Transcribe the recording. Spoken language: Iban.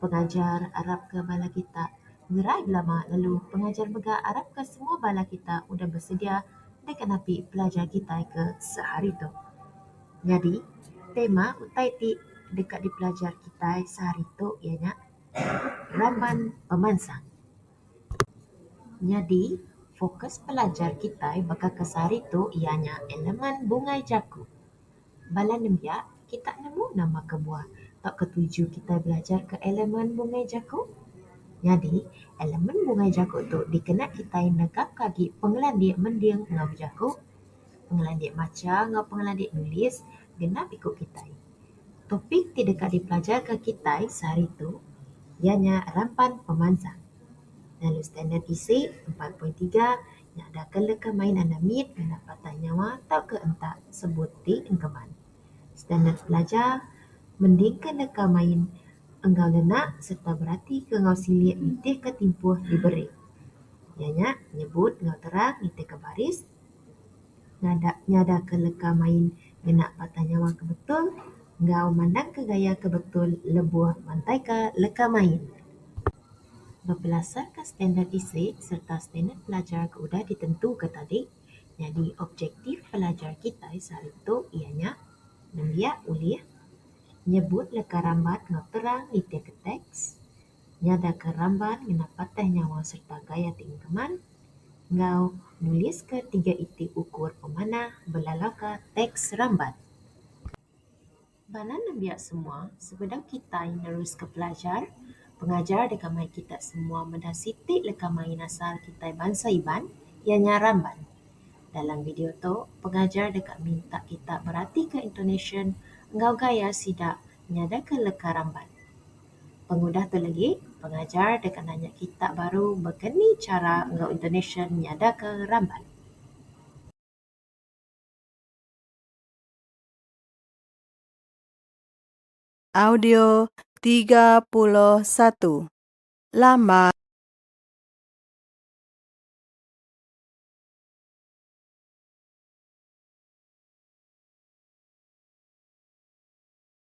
Pengajar arapka bala kita ngerai belama lalu pengajar mega arapka semua bala kita udah besedia deka napi pelajar kitai ke sehari tu. Nyadi, tema utai ti deka dipelajar kitai sehari tu iya nya Raban Pemansang. Nyadi, fokus pelajar kitai baka ke sehari tu iya nya elemen bungai jaku. Bala nembiak, kitak nemu nama kebuah tauka tuju kitai belajar ke elemen bungai jaku? Nyadi, elemen bungai jaku tu dikena kitai negapka agi pengelandik mending enggau bejaku, pengelandik macha enggau pengelandik nulis genap iku kitai. Topik ti deka dipelajarka kitai sehari tu iya nya rampan pemansang lalu standard isi empat poin tiga. nya da ke leka main anak mit ngena patah nyawa tauka enta sebut ti engkeman. Standard pelajar mending ke leka main enggau lenak sereta berati ke enggau silik nitih ke timpuh diberi. Iya nya nyebut enggau terang nitih ke baris ngada nyada ke leka main ngena patah nyawa ke betul enggau mandang ke gaya ke betul lebuh mantai ka leka main. Bepelasarka standard isi sereta standard pelajar ke udah ditentuka tadi, nyadi objektif pelajar kitai sehari tu iya nya nembiak ulih nyebut leka ramban enggau terang nitihka teks, nyadaka ramban ngena patah nyawa sereta gaya ti engkeman, enggau nuliska tiga iti ukur pemanah belalauka teks ramban. Bala nembiak semua, sebedau kitai neruska pelajar, pengajar deka mai kitak semua meda siti leka main asal kitai bansa Iban, iya nya Ramban. Dalam video tu, pengajar deka minta kita beratika intonasyen enggau gaya sida nyadaka leka Ramban. Pengudah tu legi, pengajar deka nanya kita baru baka ni chara enggau intonasyen nyadaka Ramban. Audio tiga puluh satu Lama